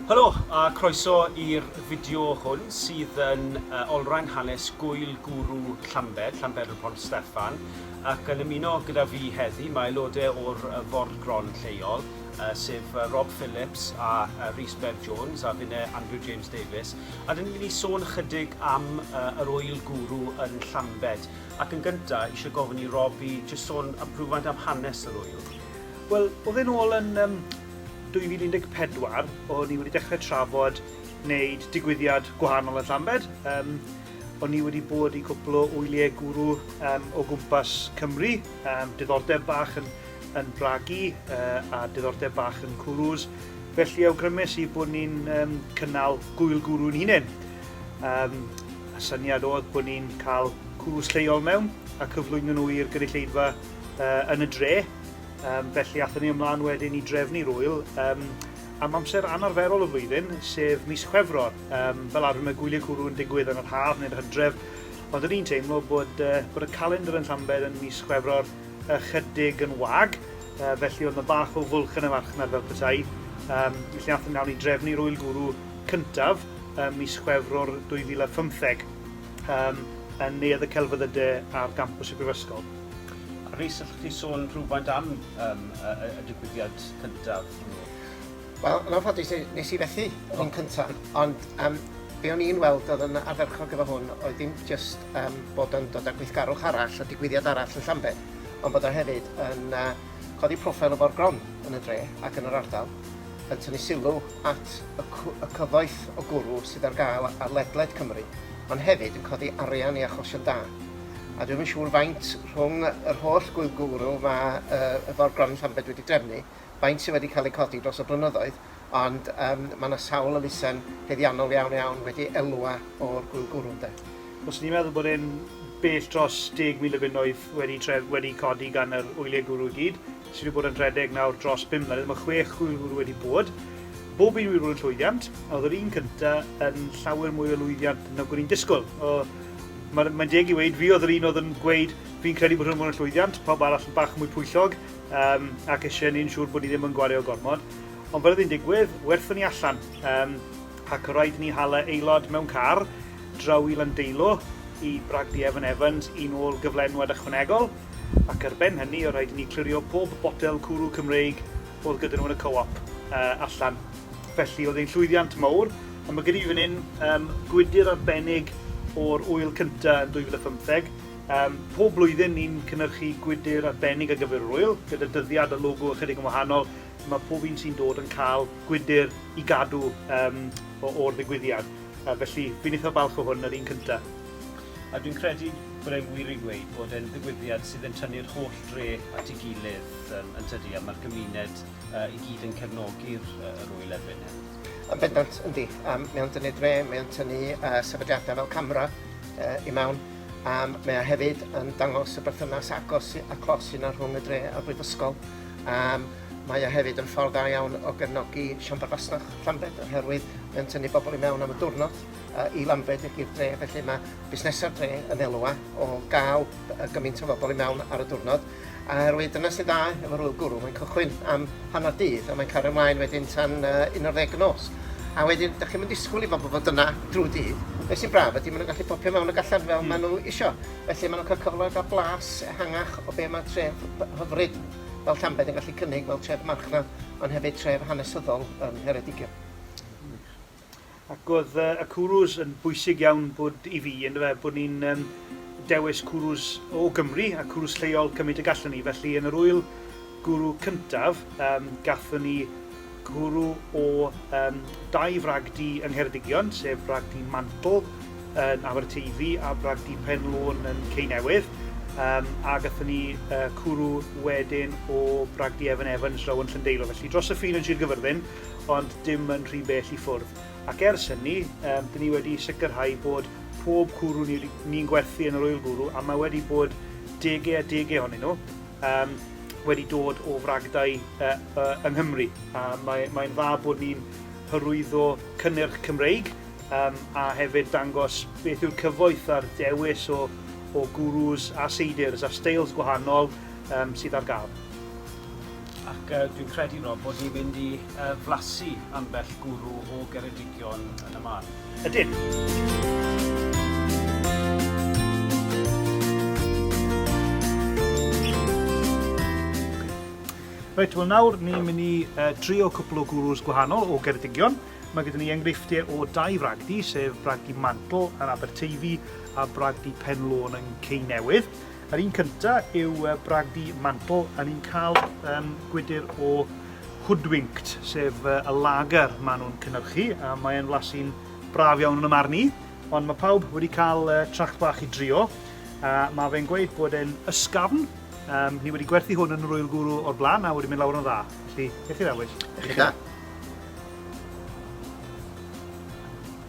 Helo a croeso i'r fideo hwn sydd yn uh, olrhain hanes gwyl gwrw Llambed, Llambed y Pont Steffan, ac yn ymuno gyda fi heddi mae aelodau o'r uh, bord gron lleol, uh, sef uh, Rob Phillips a uh, Rhys Bev Jones a finne Andrew James Davies, A dan ni'n mynd i sôn ychydig am uh, yr oil gwrw yn Llambed. Ac yn gyntaf, eisiau gofyn i Rob i jyst sôn am rhywfaint am hanes yr oil. Wel, oedd e'n ôl yn um, 2014, o'n i wedi dechrau trafod wneud digwyddiad gwahanol yn Llambed. Um, o'n i wedi bod i gwpl o wyliau gwrw um, o gwmpas Cymru, um, diddordeb bach yn yn bragu a diddordeb bach yn cwrws, felly awgrymus i bod ni'n um, cynnal gwyl gwrw yn hunain. Um, y syniad oedd bod ni'n cael cwrws lleol mewn a cyflwyno nhw i'r gynulleidfa uh, yn y dre. Um, felly athyn ni ymlaen wedyn i drefnu rwyl um, am amser anarferol y flwyddyn, sef mis Chwefror. Um, fel arfer mae gwyliau cwrw yn digwydd yn yr haf neu'r hydref, ond yn un teimlo bod, uh, bod y calendr yn Llambed yn mis Chwefror ychydig yn wag, uh, felly oedd yna bach o fwlch yn y farchnad fel petai. Um, felly athyn nawn ni drefnu'r wyl gwrw cyntaf um, mis Chwefror 2015 um, yn neuadd y celfyddydau ar gampus y Brifysgol. Rhys, allwch chi sôn rhywfaint am um, y, y digwyddiad cyntaf hwnnw? Wel, yn anffodus, ne- nes i fethu hwn cynta, ond yym be' o'n i'n weld o'dd yn ardderchog efo hwn oedd dim jyst yym bod o'n dod â gweithgarwch arall a digwyddiad arall yn Llambed, ond bod o hefyd yn yy codi proffil y foreground yn y dre ac yn yr ardal, yn tynnu sylw at y cw- y cyfoeth o gwrw sydd ar ga'l ar ledled Cymru, ond hefyd yn codi arian i achosion da. A dwi'm yn siŵr faint rhwng yr holl gw- gwrw ma' yy y foreground yn Llambed wedi drefnu, faint sydd wedi cael eu codi dros y blynyddoedd, ond yym mae 'na sawl elusen heddiannol iawn iawn wedi elwa o'r gŵyl gwrw ynde. Fyswn i'n meddwl bod e'n bell dros 10,000 o bunnoedd wedi tref- wedi codi gan yr wyliau gwrw i gyd, sydd wedi bod yn rhedeg nawr dros bum mlynedd, mae chwech gŵyl gwrw wedi bod, bob un wedi bod yn llwyddiant, oedd yr un cynta yn llawer mwy o lwyddiant nag o'n i'n disgwyl, o, ma- mae'n deg i weud, fi oedd yr un oedd yn gweud fi'n credu bod hwn yn bod yn llwyddiant, pawb arall yn bach mwy pwyllog, um, ac eisiau ni'n siŵr bod ni ddim yn gwario gormod. Ond fel oedd hi'n digwydd, werthwn ni allan. Um, ac yr rhaid ni hala aelod mewn car draw i Landeilo i bragdi Evan Evans i'n ôl gyflenwad ychwanegol, ac ar ben hynny o rhaid ni clirio pob botel cwrw Cymreig oedd gyda nhw yn y co-op uh, allan. Felly oedd ein llwyddiant mawr, a mae gyda fi fan hyn um, gwydir arbennig o'r wyl cyntaf yn 2015, Pob blwyddyn ni'n cynyrchu gwydr arbennig ar gyfer yr ŵyl, gyda dyddiad a logo ychydig yn wahanol, lle mae pob un sy'n dod yn cael gwydr i gadw o'r ddigwyddiad. Felly, fi'n eitha falch o hwn, yr un cynta. A dwi'n credu bod e'n wir i ddweud bod e'n ddigwyddiad sydd yn tynnu'r holl dre at ei gilydd, yn tydi, a mae'r gymuned i gyd yn cefnogi'r yr ŵyl erbyn hyn. Yn bendant, yndi. Mae o'n tynnu dre, mae o'n tynnu sefydliadau fel CAMRA i mewn. a mae o hefyd yn dangos y berthynas agos a clos sy'n yna rhwng y dre a'r brifysgol. Um, mae o hefyd yn ffordd dda iawn o gefnogi Siambr Fasnach Llanbed oherwydd mae'n tynnu bobl i mewn am y diwrnod uh, i Lambed i'r dre, felly mae busnesau'r dre yn elwa o gael gymaint o bobl i mewn ar y diwrnod. Oherwydd dyna sy'n dda efo Rwyl Gwrw, mae'n cychwyn am hanner dydd a mae'n cario ymlaen wedyn tan uh, un o'r ddeg nos. A wedyn, da chi'n mynd disgwyl i bobl fod yna drwy dydd. Be sy'n braf ydy, maen nhw'n gallu popio mewn ac allan fel mm. maen nhw isio. Felly maen nhw'n cael cyfle gael blas ehangach o be mae tref hyfryd fel Llambed yn gallu cynnig fel tref marchnad, ond hefyd tref hanesyddol yn Ngheredigion. Ac oedd yy y cwrws yn bwysig iawn bod i fi yndyfe bod ni'n yym dewis cwrws o Gymru a cwrws lleol cymryd y gallwn ni felly yn yr ŵyl gwrw cyntaf yym gathon ni cwrw o yym dau frag du yng Ngheredigion sef brag du Mantle yn Aberteifi a brag du Pen Lôn yn Cei Newydd um, a gathon ni uh, cwrw wedyn o brag du Evan Evans draw yn Llyndeilo felly dros y ffin yn Sir Gyfyrddin ond dim yn rhy bell i ffwrdd. Ac ers hynny, um, dyn ni wedi sicrhau bod pob cwrw ni'n ni gwerthu yn yr oil gwrw, a mae wedi bod degau a degau ohonyn nhw, um, wedi dod o fragdau uh, uh, yng Nghymru. A mae'n mae dda bod ni'n hyrwyddo cynnyrch Cymreig um, a hefyd dangos beth yw'r cyfoeth a'r dewis o, o gwrws a seidrs a steils gwahanol um, sydd ar gael. Ac dwi'n credu, Rob, bod ni'n mynd i uh, flasu ambell gwrw o Geredigion yn y man. Ydyn! Reit, wel nawr ni'n mynd i uh, trio cwpl o gwrws gwahanol o Geredigion. Mae gyda ni enghreifftiau o dau fragdi, sef bragdi Mantle yn Aberteifi a bragdi Penlôn yn Cei Newydd. Yr un cynta yw bragdy Mantle a ni'n cael yym gwydr o Hoodwinked, sef y lager maen nhw'n cynhyrchu a mae e'n flasu'n braf iawn yn y marn i, ond mae pawb wedi cael tracht bach i drio a mae fe'n gweud bod e'n ysgafn, um, ni wedi gwerthu hwn yn yr Oil Guru o'r blaen a wedi mynd lawr yn dda, felly, beth i'r awyll? Eich da.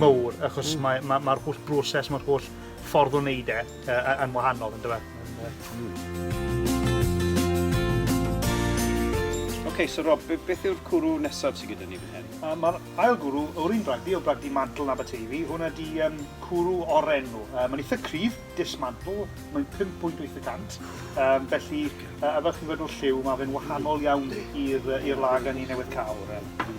mawr achos mae'r mae, mae holl broses, mae'r holl ffordd o wneud e uh, yn wahanol, ynddo fe? Oce, okay, so Rob, beth yw'r cwrw nesaf sydd gyda ni fan hyn? Uh, Mae'r ail gwrw o'r un bragdi, o bragdi mantel na Aberteifi, hwnna di um, cwrw oren nhw. Uh, mae'n eitha cryf, dismantle, mae'n 5.8%, um, felly uh, a fel chi'n gweld o'r lliw, mae fe'n wahanol iawn i'r lag a ni newydd cael. Um,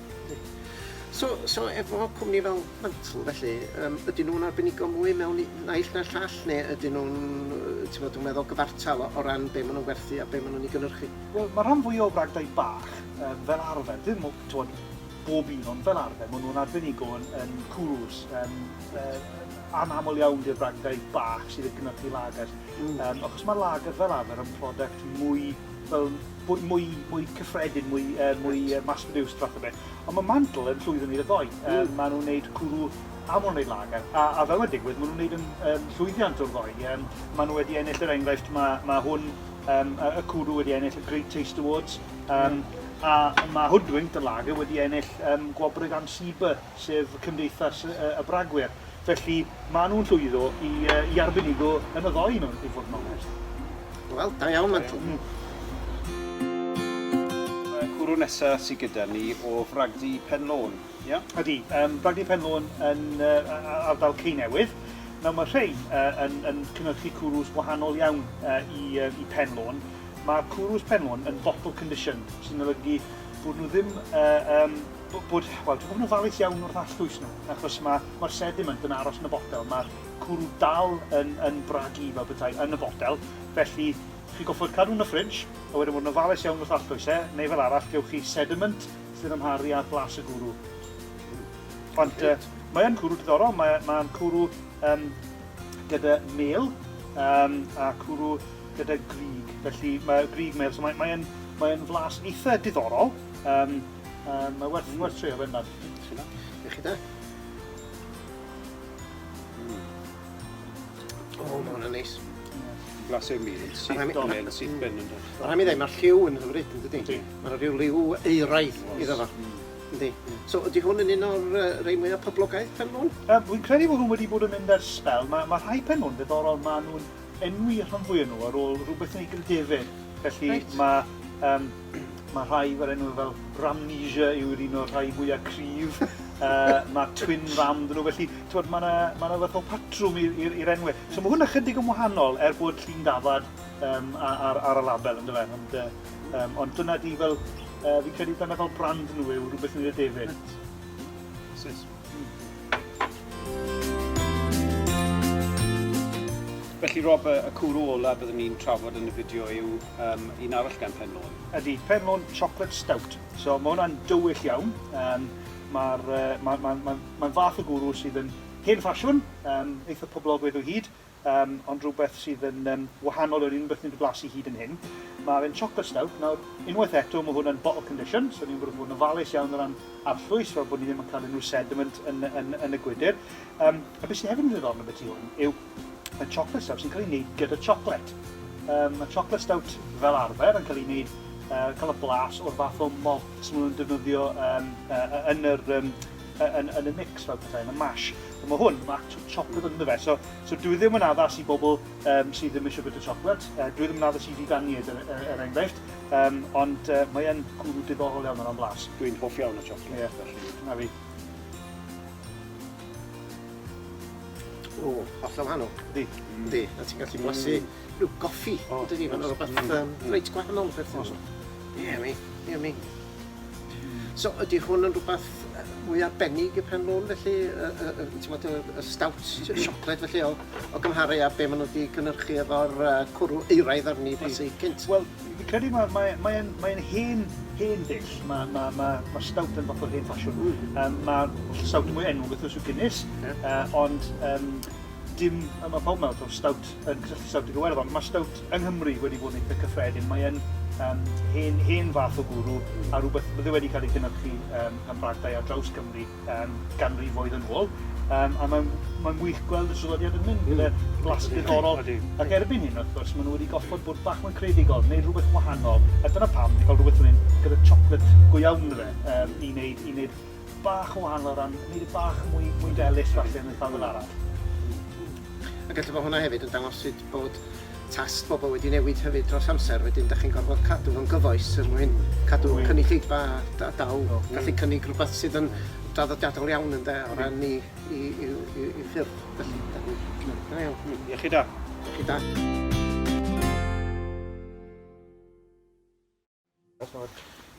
So, so efo cwmni fel Mantle felly, yym ydyn nhw'n arbenigo mwy mewn un naill na'r llall, neu ydyn nhw'n, yy, t'mod, dwi'n meddwl, gyfartal o o ran be' ma' nhw'n werthu a be' ma' nhw'n 'i gynhyrchu? Wel, ma'r rhan fwya o bragdau bach, yym, fel arfer, ddim o, t'mod, bob un, ond fel arfer, ma' nhw'n arbenigo yn yn cwrws, yym, yy, anaml iawn 'di'r bragdau bach sydd yn cynhyrchu lagers. Mm. Yym, achos ma' lager fel arfer yn product mwy fel bod mwy, mwy cyffredin, mwy, uh, mwy uh, mass-produced fath o beth. Ond mae Mantle yn llwyddo wneud y ddoi. Mm. Um, maen nhw'n gwneud cwrw a maen nhw'n gwneud lager. A, a fel mae'n digwydd, maen nhw'n gwneud yn, um, llwyddiant o'r ddoi. Um, maen nhw wedi ennill yr er enghraifft, mae, mae hwn, um, y cwrw wedi ennill y Great Taste Awards. Um, mm. A mae Hoodwinked yn lager wedi ennill um, gwobrau gan Sieber sef Cymdeithas y Bragwyr. Felly, maen nhw'n llwyddo i, uh, i arbenigo yn y ddoi, mewn, i fod yn onest. Wel, da iawn, Mantl. Da iawn. cwrw nesa sydd gyda ni o Fragdy Penlôn, ia? Yeah? Ydy, um, Bragdy Penlôn yn uh, ardal Ceinewydd. Nawr mae rhai uh, yn, yn cynhyrchu cwrws wahanol iawn uh, i, uh, i Penlôn. Mae'r cwrws Penlôn yn bottle conditioned, sy'n olygu bod nhw ddim uh, um, Bod, bod, wel, dwi 'di bod yn ofalus iawn wrth allbwys nhw, achos ma', ma'r sediment yn aros yn y botel, ma'r cwrw dal yn, yn bragu fel petai yn y botel, felly chi'n gorfod cadw nhw yn y fridge, a wedyn bod yn ofalus iawn wrth allbwys e, neu fel arall, gewch chi sediment sy'n amharu ar blas y gwrw. Ond, uh, mae yn cwrw diddorol, mae, mae'n cwrw um, gyda mêl, um, a cwrw gyda grig, felly mae grig mêl, so mae'n mae mae flas eitha diddorol, um, Um, mae werth, mm. werth trio fe ynddo'n. Ti'n dda? Ie chi da? O, mae hwnna'n neis. Glas i'r mil, syth dolen, syth ben yn dod. Rhaid mi ddweud, mae'r lliw yn hyfryd, yn dydy? Mae'n rhyw liw eiraidd iddo fo. Mm. Yndi. So ydy hwn yn un o'r uh, rei mwyaf poblogaidd pen nhw'n? Um, Wy'n credu bod hwn wedi bod yn mynd ar spel. Mae ma rhai pen nhw'n ddiddorol, mae nhw'n enwi rhan fwy nhw ar ôl rhywbeth yn ei grydefen. Felly right. mae um, Mae rhai efo'r enw fel Ramnesia yw'r un o'r rhai mwyaf cryf. uh, mae Twin Ram dyn nhw, felly twod, mae yna ma na fath o patrwm i'r enwau. So mae hwn ychydig yn wahanol er bod llun dafad um, ar, ar y label yn dyfa. Ond, uh, um, ond dyna di fel, uh, fi'n credu dyna fel brand nhw yw rhywbeth yn y defyd. Sis. Felly Rob, y cwrw ola byddwn ni'n trafod yn y fideo yw um, un arall gan Penlôn. Ydy, Penlôn Chocolate Stout. So mae hwnna'n dywyll iawn. Um, Mae'n uh, ma, ma, ma, ma fath o gwrw sydd yn hen ffasiwn, um, eitha poblogaidd o hyd, um, ond rhywbeth sydd yn um, wahanol o'r unrhyw beth ni'n blasu hyd yn hyn. Mae fe'n chocolate stout. Nawr, unwaith eto, mae hwn yn bottle condition, so ni'n gwybod bod yn ofalus iawn o ran arllwys, fel bod ni ddim yn cael unrhyw sediment yn, yn, yn, yn y gwydr. Um, a beth sydd hefyd yn ddiddorol beth i hwn yw Mae chocolate stout yn cael ei wneud gyda chocolate. Um, mae chocolate stout fel arfer yn cael ei wneud, uh, cael y blas o'r fath o malt maen nhw'n defnyddio um, uh, yn, yr, um, yn, yn y mix fel pethau, yn y mash. Ond mae hwn, mae actual chocolate yn fe. So, so dwi ddim yn addas i bobl um, sydd ddim eisiau bwyta chocolate. Uh, dwi ddim yn addas i figaniaid er, er, er enghraifft. Um, ond uh, mae'n cwrw diddorol iawn o'n blas. Dwi'n hoff iawn o chocolate, yeah. felly. Na fi. O, hollol wahanol. Yndi. Yndi. A ti'n gallu blasu rhyw goffi. O, ydy, mae'n rhywbeth mm. um, mm. reit gwahanol. Os. Ie, mi. Ie, mi. So, ydy hwn yn rhywbeth mwy arbennig y pen lôn felly, y, y, y, ti'n bod, y, y stout siocled felly o, o gymharu a be maen nhw wedi cynnyrchu efo'r uh, cwrw euraidd arni blasu cynt? Wel, Fi'n credu mae, mae, mae, mae yn hen, hen ddull. Mae, mae, mae, mae stout yn fath o hen ffasiwn. Um, mae stout mwy enw beth yw Guinness, yeah. uh, ond um, dim, mae pawb mewn o'r stout yn cysylltu stout y gywer ond mae stout yng Nghymru wedi bod yn eitha cyffredin. Mae'n um, hen, hen fath o gwrw a rhywbeth bydde wedi cael ei gynhyrchu um, gan bragdau ar draws Cymru um, ganrifoedd yn ôl, um, a mae'n mae wych gweld y traddodiad yn mynd gyda mm. blas diddorol. Ac erbyn hyn, wrth gwrs, maen nhw wedi goffod bod bach mwy credigol, neu rhywbeth wahanol, a dyna pam, wedi cael rhywbeth yn gyda chocolate go iawn yn fe, um, i wneud, i wneud bach o wahanol o ran, wneud y bach mwy, mwy delus falle yn y ffafel arall. A gallu bod hwnna hefyd yn dangos sut bod Tast bobl wedi newid hefyd dros amser wedyn dach chi'n gorfod cadw fo'n gyfoes er mwyn cadw cynulleidfa da daw gallu cynnig rhywbeth sydd yn draddodiadol iawn ynde o ran i i i i i ffyrdd felly da ni da iawn. Hmm iechyd da. Iechyd da.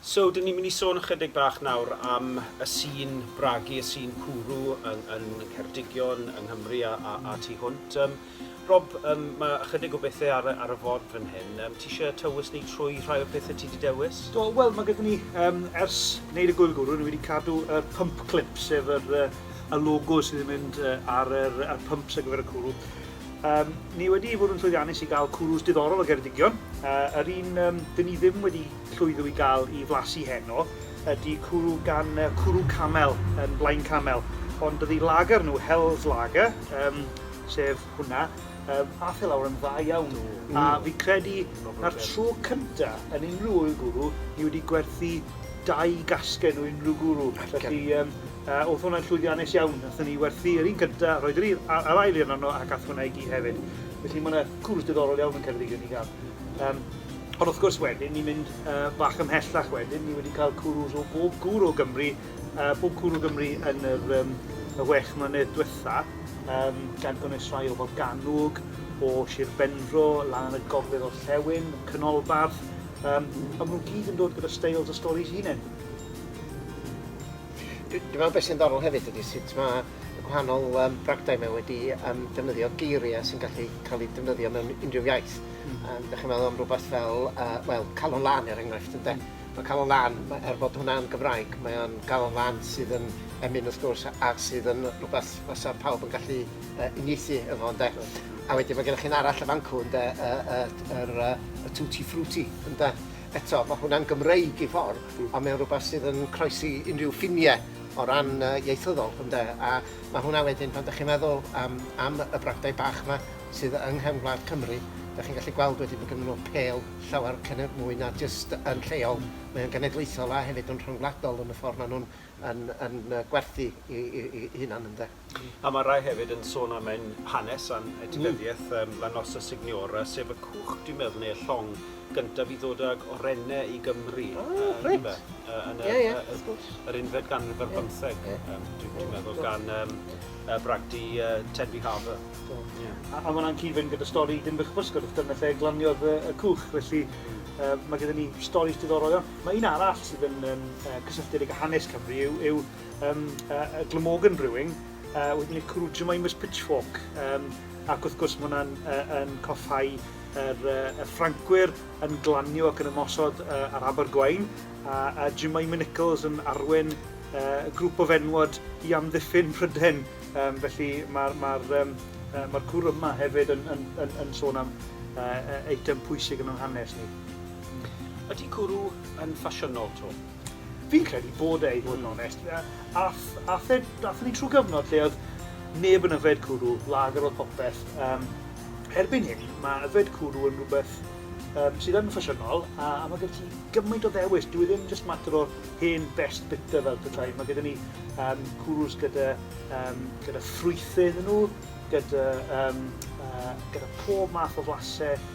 So, dyn ni'n mynd i sôn ychydig bach nawr am y sîn bragu, y sîn cwrw yng yng Ngheredigion, yng Nghymru a a a tu hwnt. Yym Rob, yym ma' ychydig o bethe ar y ar y ford fan hyn. Yym ti isie tywys ni trwy rhai o'r pethe ti 'di dewis? Do, wel ma' gyda ni, yym ers neud y Gŵyl Gwrw ni wedi cadw y pump clip, sef yr yy y logos sydd yn mynd yy ar yr y pumps ar gyfer y cwrw. Yym, ni wedi bod yn llwyddiannus i gael cwrws diddorol o Geredigion. Yy, yr un yym, dyn ni ddim wedi llwyddo i gael i flasu heno ydy cwrw gan yy, cwrw camel yn Blaen Camel. Ond dydi lager nhw, Hell's Lager, yym, sef hwnna, yym, ath e lawr yn dda iawn. Do. A fi'n credu 'na'r tro cynta yn unrhyw ŵyl gwrw ni wedi gwerthu dau gasgen o unrhyw gwrw. Felly yym O'dd hwnna'n llwyddiannus iawn, nathon ni werthu yr un cynta, roedd yr un a'r ail un arno ac ath hwnna i gyd hefyd. Felly ma' 'na cwrs diddorol iawn yn Ceredigion i ga'l. Yym, ond wrth gwrs wedyn ni'n mynd yy bach ymhellach wedyn, ni wedi ca'l cwrws o bob cwr o Gymru, yy pob cwr o Gymru yn yr yym y wech mlynedd dwetha, yym gan gynnwys rhai o Forgannwg, o Shir Benfro, lan yn y gogledd orllewin, Canolbarth, yym a ma' nw gyd yn dod gyda steils a storis 'u hunen. Dwi dwi'n meddwl beth sy'n ddiddorol hefyd ydy sut mae y gwahanol um, bragdau mae wedi um, defnyddio geiriau sy'n gallu cael eu defnyddio mewn unrhyw iaith. Mm. Um, Dych chi'n meddwl am rhywbeth fel, uh, well, calon lan er enghraifft, ynde? Mm. Mae calon lan, er bod hwnna'n Gymraeg, mae o'n calon lan sydd yn emyn wrth gwrs a sydd yn rhywbeth fysa pawb yn gallu uh, unieithu efo, ynde? Mm. A wedyn mae gennych chi'n arall y fancw, ynde, y, y, y, y, y tutti frutti, ynde? Eto, mae hwnna'n Gymreig i ffordd, ond mae o'n rhywbeth sydd yn croesi unrhyw ffiniau o ran uh, ieithyddol, ynde? A mae hwnna wedyn, pan ydych chi'n meddwl um, am y bragdau bach yma sydd yng nghefn gwlad Cymru, ydych chi'n gallu gweld wedyn bod gen nhw pel llawer cynnydd mwy na jyst yn lleol. Mae'n genedlaethol a hefyd yn rhyngwladol yn y ffordd maen nhw'n yn, yn, yn gwerthu i, i, i hunan, ynde? A mae rhai hefyd yn sôn am ein hanes a'n etifeddiaeth yym La Nossa Signora, sef y cwch dwi'n meddwl, neu'r llong gyntaf i ddod ag orene i Gymru. O, yy, reit. yndyfe? Yy, yn y- Ie, ie, wrth gwrs. yy, yr unfed ganrif ar bymtheg. Ie. Yym, dwi- dwi'n meddwl, Do. gan, yym, yy, bragdy, yy, Tenby Harbour. Do. Ie. A a ma' wnna'n cyd-fynd gyda stori Dinbych-y-pysgod, wrth gwrs, dyna lle glaniodd y y cwch, felly... Hmm. ...yy, ma' gyda ni storis diddorol iawn. Ma' un arall sydd yn, yym, yy, cysylltiedig â hanes Cymru yw yw um, uh, y Glamorgan Brewing, uh, wedyn y Cwrw Jemai Miss Pitchfork, um, ac wrth gwrs mae hwnna'n uh, yn coffau yr, uh, y Ffrancwyr yn glanio ac yn ymosod uh, ar Abergwain, a, a Jemima Nichols yn arwen uh, grŵp o fenwod i amddiffyn Pryden. Um, felly mae'r ma um, uh, ma cwr yma hefyd yn, yn, yn, yn sôn am uh, eitem pwysig yn o'n hanes ni. Ydy cwrw yn ffasiynol to? Fi'n credu bod e, i fod yn onest. Ath e, athon ni trwy gyfnod lle oedd neb yn yfed cwrw, lager oedd popeth. Um, erbyn hyn, mae yfed cwrw yn rhywbeth um, sydd yn ffasiynol, a, a mae gyda ti gymaint o ddewis. Dwi e ddim just mater o'r hen best bitter fel pethau. Mae gyda ni um, cwrws gyda, um, gyda ffrwythyn yn nhw, gyda, um, uh, gyda pob math o flasau,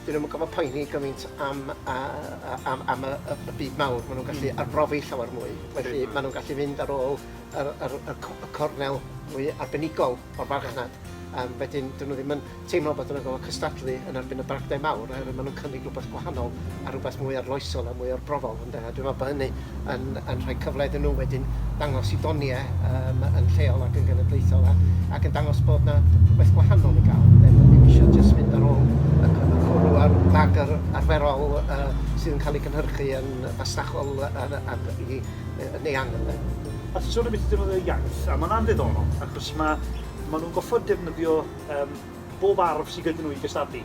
'dyn nw'm yn gorfod poeni gymaint am yy yy am am y y y byd mawr ma' nw'n gallu... Hmm. ...arbrofi llawer mwy felly... Yndi. ...ma' nw'n gallu mynd ar ôl yr yr y co- y cornel mwy arbenigol o'r farchnad. Ie. Yym wedyn 'dyn nw ddim yn teimlo bod yn y gorfo' cystadlu yn erbyn y bragdau mawr oherwydd ma' nw'n cynnig rwbeth gwahanol a rwbeth mwy arloesol a mwy arbrofol. Dwi'n meddwl bod hynny yn yn rhoi cyfle iddyn nhw wedyn ddangos i ddoniau yym yn lleol ac yn genedlaethol a ac yn dangos bod yna rhywbeth gwahanol i gael ynde, bod ddim eisiau jyst mynd ar ôl y c- y cwrw a'r bag yr arferol yy sydd yn cael ei gynhyrchu yn fasnachol yy yn ac i yy yn eang ynde. A ti'n sôn ambiti defnyddio iaith a ma' hwnna'n ddiddorol achos ma' ma' nhw'n gorfod defnyddio yym bob arf sy gyda nhw i gystadlu.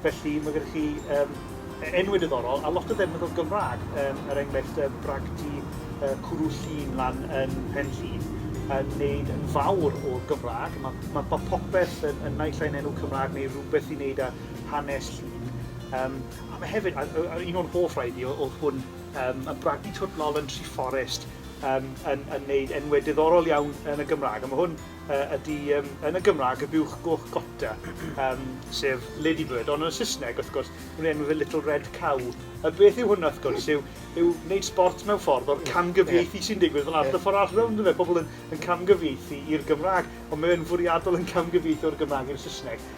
Felly mae gyda chi um, enwau diddorol, a lot o ddefnydd o Gymraeg, um, er enghraifft um, bragdy uh, cwrw llun lan yn pen llun, yn wneud yn fawr o'r Gymraeg. Mae, mae, mae popeth yn, yn naill ai'n enw Cymraeg neu rhywbeth i wneud â hanes llun. Um, a mae hefyd, a, a, un o'r hoff rhaid i oedd hwn, um, y bragdy twtnol yn Tri Fforest, um, yn, yn wneud enwau diddorol iawn yn y Gymraeg. A mae hwn ydy yn y Gymraeg y buwch goch gotta, um, sef ladybird, ond yn y Saesneg, wrth gwrs, nhw'n enw fe little red cow. A beth yw hwnna, wrth gwrs, yw, yw wneud sport mewn ffordd o'r camgyfieithu sy'n digwydd fel arfer ffordd arall rownd fe, pobl yn, yn camgyfieithu i'r Gymraeg, ond mae'n fwriadol yn camgyfieithu o'r Gymraeg i'r Saesneg.